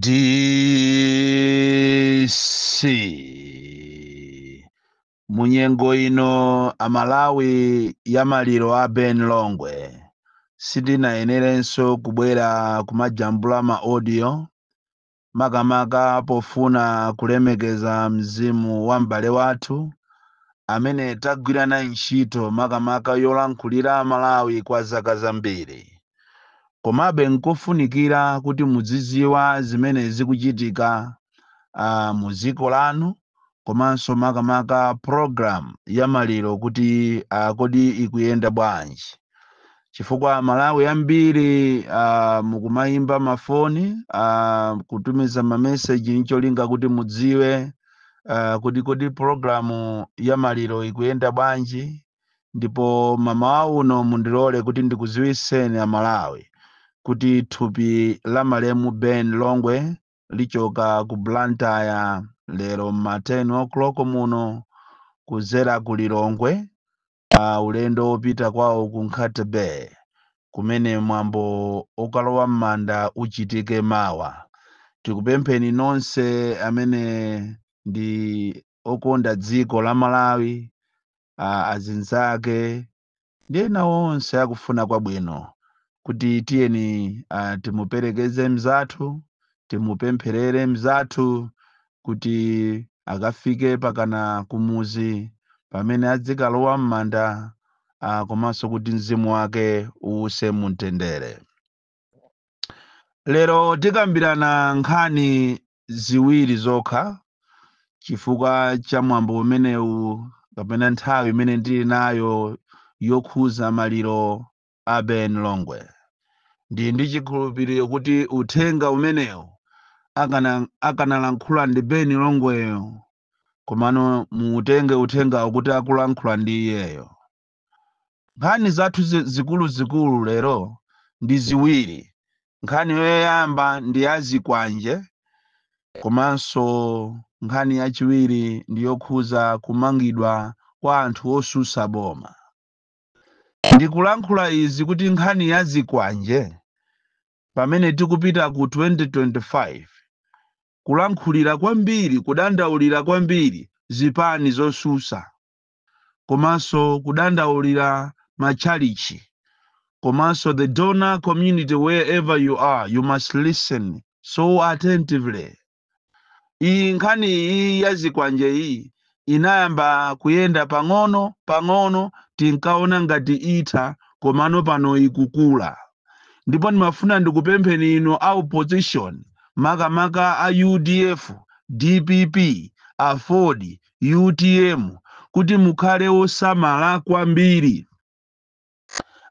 DC munyengo ino Amalawi ya maliro a Ben Longwe sindinayenerenso kubwera kumajambula ma audio makamaka pofuna kulemekeza mzimu wa m'bale wathu amene tagwira naye ntchito makamaka yolankhulira Amalawi kwa zaka zambiri. Komabe n'kofunikira kuti muzidziwa zimene zikuchitika uh, mu dziko lanu komanso makamaka program ya maliro kuti uh, kodi ikuyenda bwanji chifukwa Amalawi ambiri uh, mukumayimba mafoni uh, kutumiza mameseji ncholinga kuti mudziwe uh, kodi kodi programu ya maliro ikuyenda bwanji ndipo mamawa uno mundilole kuti ndikuziwiseni Amalawi kuti thupi la malemu Ben Longwe lichoka ku Blantyre lero m'ma 10 o'clock muno kudzera ku Lilongwe ulendo wopita kwawo ku Nkhata Bay kumene mwambo okalowa m'manda uchitike mawa. Tikupempheni nonse amene ndi okonda dziko la Malawi, ah, azinzake, ndi ena onse akufuna kwabwino kuti tiyeni uh, timuperekeze mzathu timupempherere mzathu kuti akafike pakana kumuzi pamene adzikalowa m'manda uh, komanso kuti mzimu wake uuse mumtendere lero tikambirana nkhani ziwiri zokha chifukwa cha mwambo umenewu kapena nthawi imene ndili nayo yokhuza maliro a Ben Longwe ndi ndi chikhulupiriro kuti uthenga umenewu akanalankhula ndi Ben Longweyo komano muutenge uthengawo kuti akulankhula ndi iyeyo nkhani zathu zikuluzikulu lero ndi ziwiri nkhani yoyamba ndi ya zikwanje komanso nkhani yachiwiri ndi yokhuza kumangidwa kwa anthu osusa boma ndikulankhula izi kuti nkhani ya zikwanje pamene tikupita ku 2025 kulankhulira kwambiri kudandaulira kwambiri zipani zosusa komanso kudandaulira matchalichi komanso the donor community wherever you are you must listen so attentively iyi nkhani iyi ya zikwanje iyi inayamba kuyenda pang'ono pang'ono tinkaona ngati itha komano pano ikukula ndipo ndimafuna ndikupempheni inu a opposition makamaka a udf dpp aford utm kuti mukhale osamala kwambiri.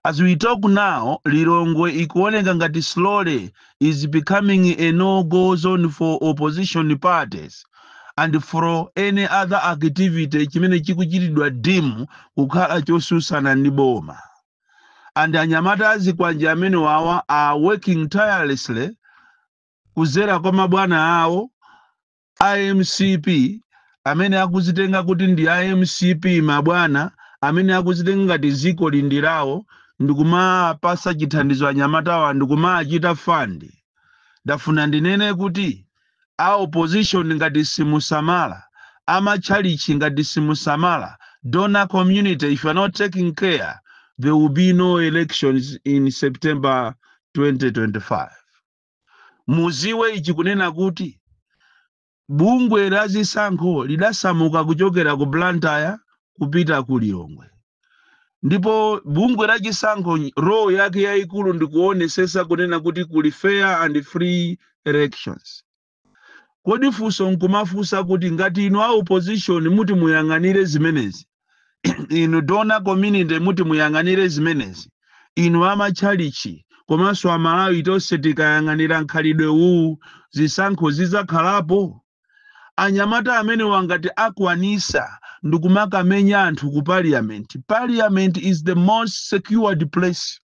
As we talk now Lilongwe ikuoneka ngati slowly is becoming a no go zone for opposition parties and for any other activity chimene chikuchitidwa deem kukhala chosusana ndi boma and anyamata azikwanje amenewawa are working tirelessly kuzera kwa mabwana awo A mcp amene akuzitenga kuti ndi a mcp mabwana amene akuzitenga ngati ziko li ndi lawo ndikumapasa chithandizo anyamatawa ndikumaachita fund ndafuna ndinene kuti a opposition ngati simusamala amatchalitchi ngati simusamala donor community if you are not taking care there will be no elections in september 2025 Muziwe ichi kunena kuti bungwe la zisankho lidasamuka kuchokera ku Blantyre kupita ku Lilongwe ndipo bungwe la chisankho role yake yayikulu ndikuonesesa kunena kuti kuli fair and free elections. Kodi funso nkumafunsa kuti ngati inu a opposition muti muyang'anire zimenezi? inu donor community muti muyang'anire zimenezi inu amatchalichi komanso amalawi tonse tikayang'anira mkhalidwe uwu zisankho zidzakhalapo anyamata amenewa ngati akwanisa ndikumakamenya anthu ku parliament parliament is the most secured place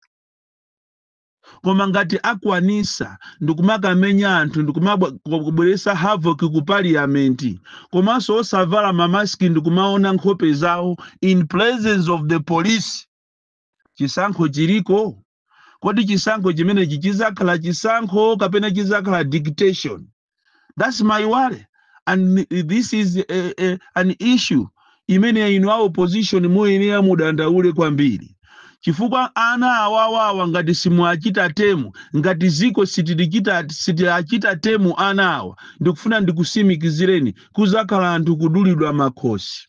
koma ngati akwanisa ndikumakamenya anthu ndikumabweresa havoc ku parliament komanso osavala mamaski ndikumaona nkhope zawo in presence of the police chisankho chiliko kodi chisankho chimenechi chizakhala chisankho kapena chizakhala dictation thats my worry and this is a, a, an issue imene inu a opposition muyenera mudandaule kwambiri chifukwa ana awawawa ngati simuachita tame ngati ziko sitilichita sitiachita tame ana awa ndikufuna ndikusimikizireni kuzakhala anthu kudulidwa makhosi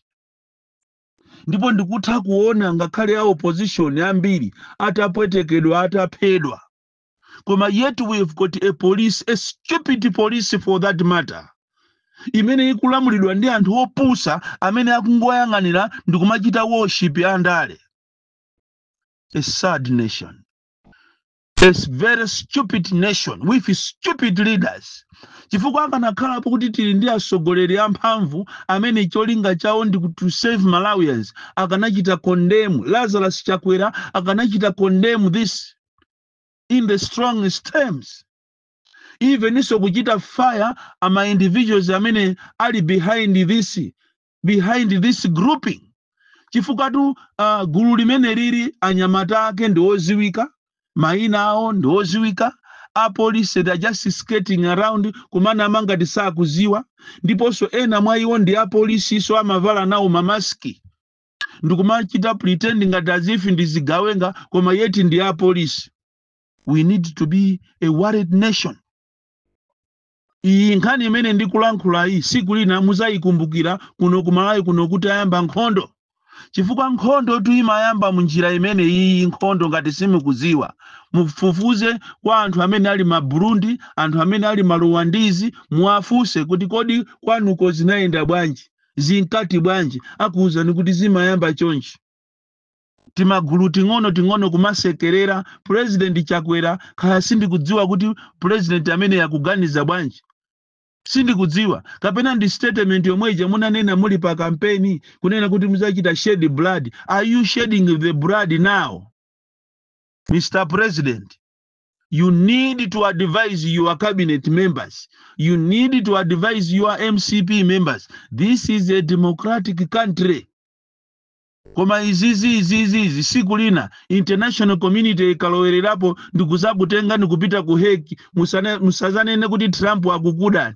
ndipo ndikutha kuona ngakhale a opposition ambiri atapwetekedwa ataphedwa koma yet we have got a police a stupid police for that matter imene ikulamulidwa ndi anthu opusa amene akungoyang'anira ndi kumachita worship andale a sad nation a very stupid nation with stupid leaders chifukwa akanakhalapo kuti tili ndi atsogoleri amphamvu amene cholinga chawo ndi ku- to save malawians akanachita condemn lazarus chakwera akanachita condemn this in the strongest terms eveninso kuchita fire ama individuals amene ali behind this behind this grouping chifukwatu uh, gulu limene lili anyamata ake ndi oziwika mayina awo ndi oziwika apolice they are just skating around kumanama ngati sakuziwa ndiponso ena mwa iwo ndi apolisiso amavala nawo mamaski ndikumachita pretend ngati as if ndi zigawenga koma yeti ndi apolisi we need to be a worried nation iyi nkhani imene ndikulankhula iyi siku lina muzayikumbukira kuno kumalawi kuno kuti ayamba nkhondo chifukwa nkhondo tu imayamba munjira imene iyi nkhondo ngati simukuziwa mufufuze kwa anthu amene ali ma burundi anthu amene ali ma ruwandizi muwafunse kuti kodi kwanuko zinayenda bwanji zinkati bwanji akuuzani kuti zimayamba chonchi timagulu ting'ono ting'ono kumasekerera president chakwera kaya sindikudziwa kuti president ameneyu akuganiza bwanji sindikudziwa kapena ndi statement yomwe ija munanena muli pa kampeni kunena kuti muzachita shed blood are you shedding the blood now mr president you need to advise your cabinet members you need to advise your mcp members this is a democratic country koma izizi izizi izi siku lina international community ikalowererapo ndikuzakutengani kupita ku hague musane- musazanene kuti trump akukudani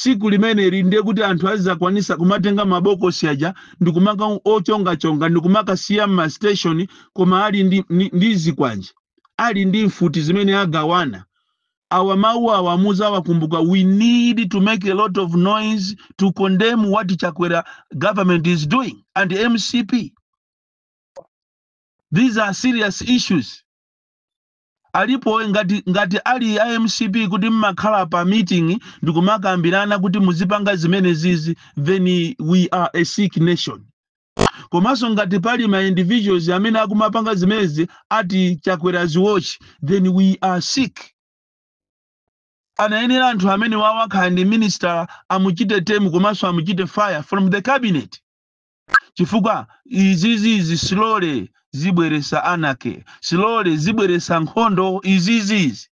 Siku limeneli ndiye kuti anthu azakwanisa kumatenga mabokosi aja ndi kumaka ochongachonga ndi kumakasiya m'ma station koma ali ndi, ndi, ndi zikwanje ali ndi mfuti zimene agawana. Awa mawu awa muzawakumbuka we need to make a lot of noise to condemn what Chakwera government is doing and mcp. These are serious issues. Alipo ngati ngati ali a mcp kuti mmakhala pa meeting ndikumakambirana kuti muzipanga zimenezizi then we are a sick nation. Komanso ngati pali ma individuals amene akumapanga zimenezi at Chakwera's watch then we are sick. Anayenera anthu amenewawa kaya ndi minister amuchite tame komanso amuchite fire from the cabinet. chifukwa izizizi slowly zibweresa anake slowly zibweresa nkhondo izizizi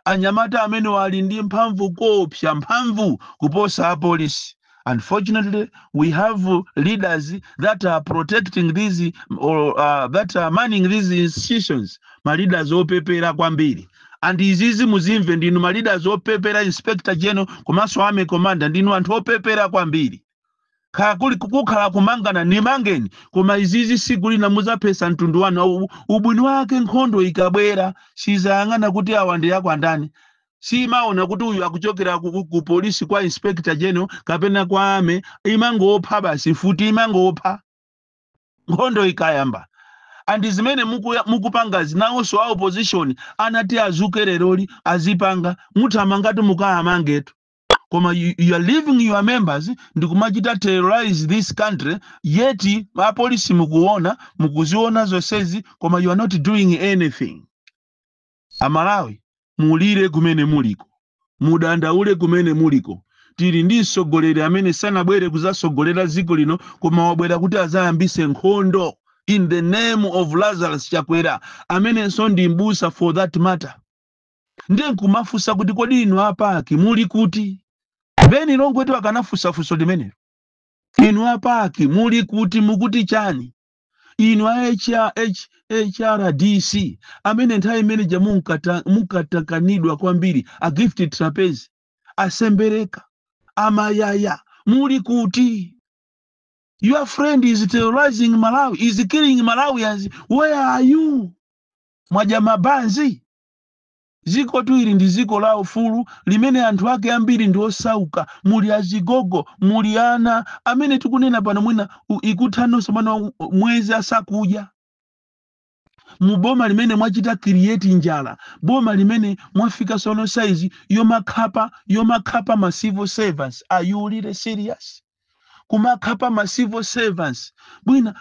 anyamata amenewa ali ndi mphamvu koopsa mphamvu kuposa apolisi unfortunately we have leaders that are protecting these or uh, that are manning these institutions ma leaders opepera kwambiri andi izizi muzimve ndinu ma leaders opepera inspector general komanso army commander ndinu anthu opepera kwambiri kuli kukhala kumangana nimangeni koma izizi siku lina muzaphesa mtundu wanu Au- ubwino wake nkhondo ikabwera sizayang'ana kuti awa ndi akwa ndani simaona kuti uyu akuchokera ku, ku, ku polisi kwa inspector general kapena kwa army imangopha basi futi imangopha nkhondo ikayamba andi zimene mukuya- mukupanga zinawonso a opposition anati adzuke leroli azipanga muthamangatu mukawamangetu koma you, you are leaving your members ndikumachita terrorize this country yet apolisi mukuona mukuziona zonsezi koma you are not doing anything amalawi mulire kumene muliko mudandaule kumene muliko tili ndi mtsogoleri amene sanabwere kuzatsogolera dziko lino koma wabwera kuti azayambise nkhondo in the name of lazarus chakwera amenenso ndi mbusa for that matter ndiye nkumafunsa kuti kodi inu a paki muli kuti Ben Longwetu akanafunsa funso limenelo inu a paki muli kuti mukuti chani inu a HR H- hrdc amene nthawi imeneja munkata- munkatakanidwa kwambiri a Gift Trapence a Sembereka a Mayaya muli kuti your friend is terrorizing malawi is killing malawians where are you mwadya mabanzi Dzikotu ili ndi dziko la ufulu limene anthu ake ambiri ndi osauka, muli azigogo, muli ana, amene tikunena pano mwina u- ukuthanonso mwina u- mwezi asakudya mu boma limene mwachita create njala boma limene mwafika sono size yomakhapa yomakhapa ma civil servants are you really serious kumakhapa ma civil servants bwina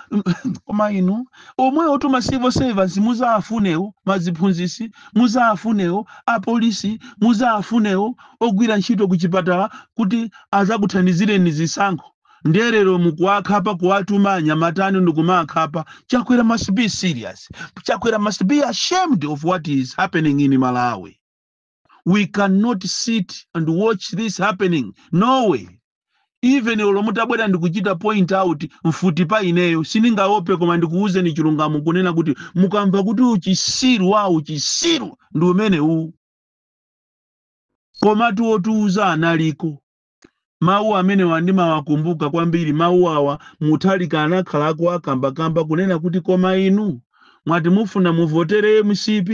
koma inu omwewotu ma civil servants muzawafunewo maziphunzisi muzawafunewo apolisi muzawafunewo ogwira ntchito ku chipatala kuti azakuthandizireni zisankho ndiye lero mukuwakhapa kuwatuma anyamata anu ndikumakhapa chakwera must be serious chakwera must be ashamed of what is happening in malawi we cannot sit and watch this happening no way even olo mutabwera ndikuchita point out mfuti pa ineyo sindingaope koma ndikuwuzeni chilungamo kunena kuti mukamva kuti uchisiru wa uchisiru ndi umene uwu komatu otiuza analiko mawu amenewa ndimawakumbuka kwambiri mawu awa mutharika anakhala akawakambakamba kunena kuti koma inu mwati mufuna muvotere mcp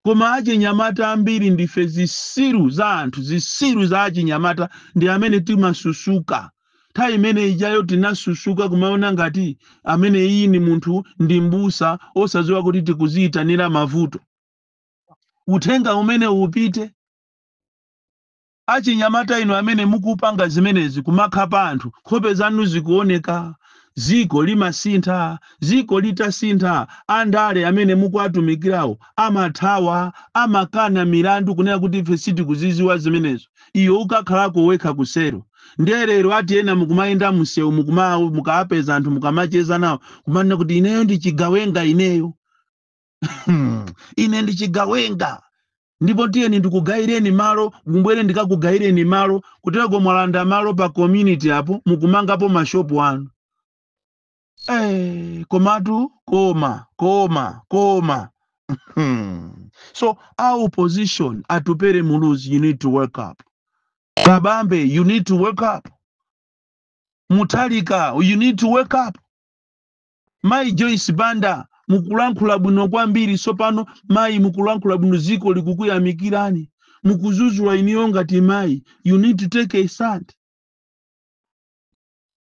koma achinyamata ambiri ndife zisiru za anthu zisiru za achinyamata ndi amene tinasusuka nthawi imene ijayo tinasusuka kumaona ngati amene iyi ni munthu ndi mbusa osadziwa kuti tikuziyitanira mavuto uthenga umene upite Achinyamata inu amene mukupanga zimenezi kumakhapa anthu nkhope zanu zikuoneka dziko limasintha, dziko litasintha andale amene mukuwatumikirawo amathawa, amakana milandu kunena kuti ife sitikuzidziwa zimenezo iwe ukakhalako wekha kuselu nde lero ati ena mukumayenda msewu mukawapeza anthu mukamacheza nawo kumanena kuti ineyo ndi chigawenga ineyo. Hmm. ine ndi chigawenga ndipo tiyeni ndikugayireni malo mubwere ndikakugayireni malo kutereko mwalanda malo pa community apo mukumangapo mashopu anu Eh, komatu koma koma koma Hmm. so our opposition atupere muluzi you need to wake up kabambe you need to wake up mutharika you need to wake up Mayi Joyce Banda, mukulankhula bwino kwambiri tsopano mayi mukulankhula bwino dziko likukuyamikirani. Mukudzudzula iniyo ngati mayi. You need to take a stand.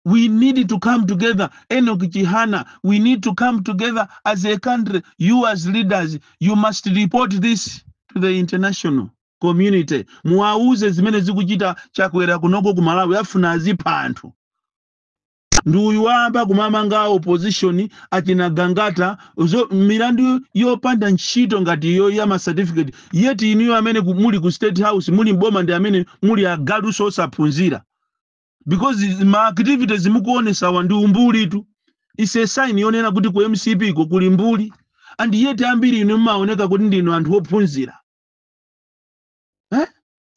We need to come together. Enoch Chihana, we need to come together as a country. You as leaders, you must report this to the international community. Muwauze zimene zikuchita chakwera kunoko ku Malawi afuna azipha anthu. ndi uyu wayamba kumamanga a opposition achina gangata milandu yopanda ntchito ngati iyo ya ma certificate yet inuyo amene muli ku state house muli mboma ndi amene muli agalunso osaphunzira because ma activities mukuonetsawa ndi umbulitu is a sign yonena kuti ku mcp ko kuli mbuli and yet ambiri inu mmaoneka kuti ndinu anthu ophunzira eh?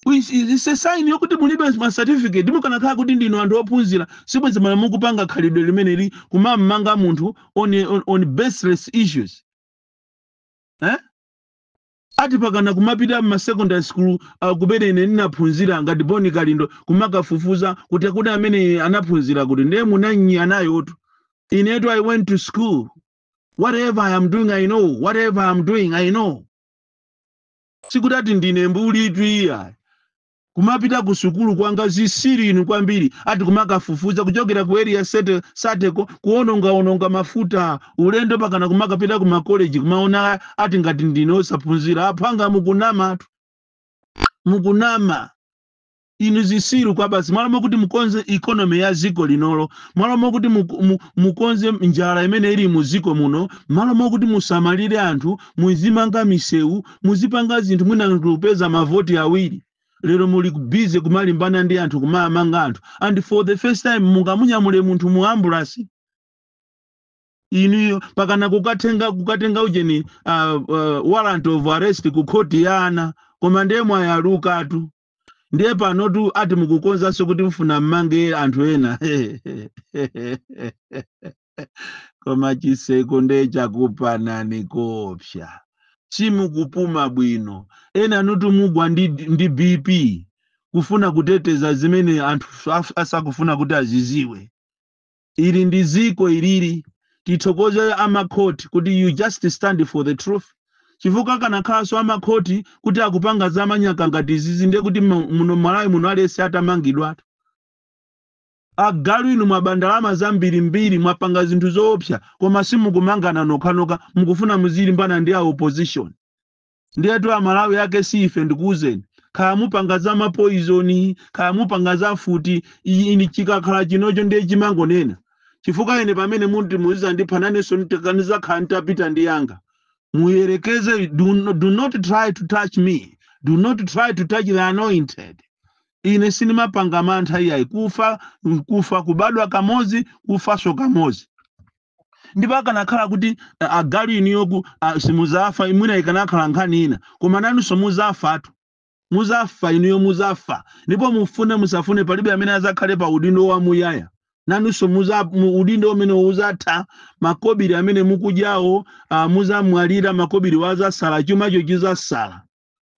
Is- is- is a sign yokuti mulibe ma certificate mukanakhala kuti ndinu anthu ophunzira sibwezi mala mukupanga khalidwe limeneli kumamanga munthu on, on, on baseless issues eh? ati mpakana kumapita mma secondary school uh, kumene ine ndinaphunzira ngati boni kalindo kumakafufuza kuti kodi amene anaphunzira kuti ndiye munanyi anayotu inetu i went to school whatever i am doing i know whatever i am doing i know sikuti ati ndine mbulitu iyayi kumapita ku sukulu kwanga zisiri inu kwambiri ati kumakafufuza kuchokera ku Area Sateko kuonongaononga mafuta ulendo pakana kumakapita ku makoleji kumaona ati ngati ndine osaphunzira aphwanga mukunamatu mukunama inu zisiru kwambiri m'malo mokuti mukonze economy ya ziko linolo m'malo mokuti muku- mu- mukonze njala imene ili mu ziko muno m'malo mokuti musamalire anthu muzimanga misewu muzipanga zinthu mwina anthu kupeza mavoti awiri lero muli busy kumalimbana ndi anthu kumamanga anthu and for the first time mungamunyamule munthu mu ambulansi inuyo pakana kukatenga kukatenga ujeni uh, uh, warrant of arrest ku khoti ya ana koma ndiye mwayalukatu ndiye panotu ati mukukonzanso kuti mufuna mumange anthu ena koma chiseko nde chakupanani koopsa simukupuma bwino enanutu mugwa ndi, ndi bp kufuna kuteteza zimene anthu af- asakufuna kuti aziziwe Ili ndi ziko ilili. Tithokoze amakhoti kuti you just stand for the truth chifukwa akanakhalanso amakhoti kuti akupanga za manyaka ngati izizi ndiye kuti mu- muno Malawi muno aliyense atamangidwatu. Agalu inu mwaba ndalama zambirimbiri mwapanga zinthu zoopsa koma simukumangana nokhanokha mukufuna muzilimbana ndi a opposition. Ndiyetu amalawi ake si ife ndikuuzeni. Kaya mupanga za ma poison, kaya mupanga za mfuti, i- ini chikakhala chinacho ndiye chimangonena. Chifukwa ine pamene munthu muzizandipha nanenso nitaka- nizakhala nitapita ndi anga. Muyerekeze, do, no- do not try to touch me. Do not try to touch the anointed. Ine sinimapanga mantha iyayi kufa nkufa kubadwa kamodzi kufaso kamodzi. ndipo akanakhala kuti a- agalu inuyo ku- a- simuzafa mwina ikanakhala nkhani ina koma nanunso muzafatu muzafa inuyo muzafa ndipo mufune musafune palibe amene azakhale pa udindo wa muyaya nanunso muza- mu- udindo umene uzatha makobiri amene mukudyawo ah, muzamwalira makobiri azasala chumacho chizasala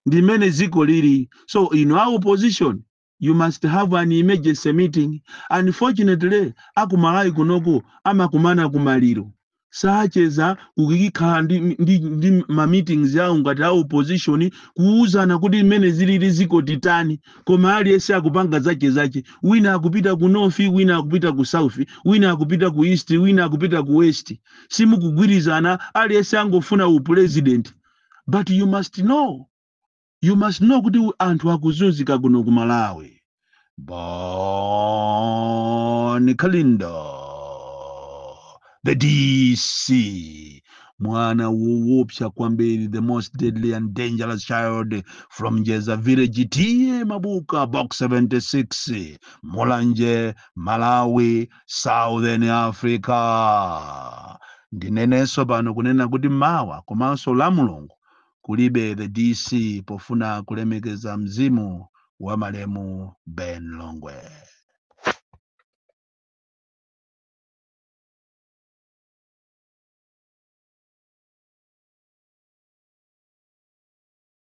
ndimene ziko lili so inu a opposition you must have an emergency meeting unfortunately akumalawi kunoku amakumana kumaliro sacheza kukakhala ndi, ndi, ndi ma meetings yawo ngati a opposition kuuzana kuti mmene zilili ziko titani koma aliyense akupanga zache zache wina akupita ku north wina akupita ku south wina akupita ku east wina akupita ku west simukugwirizana aliyense angofuna u president but you must know you must know kuti u- anthu akuzunzika kuno ku malawi bon kalindo the dc mwana woopsa kwambiri the most deadly and dangerous child from njeza village t/a mabuka box 76 mulanje malawi southern africa ndinenenso pano kunena kuti mawa komanso la mulungu kulibe the DC pofuna kulemekeza mzimu wa malemu Ben Longwe.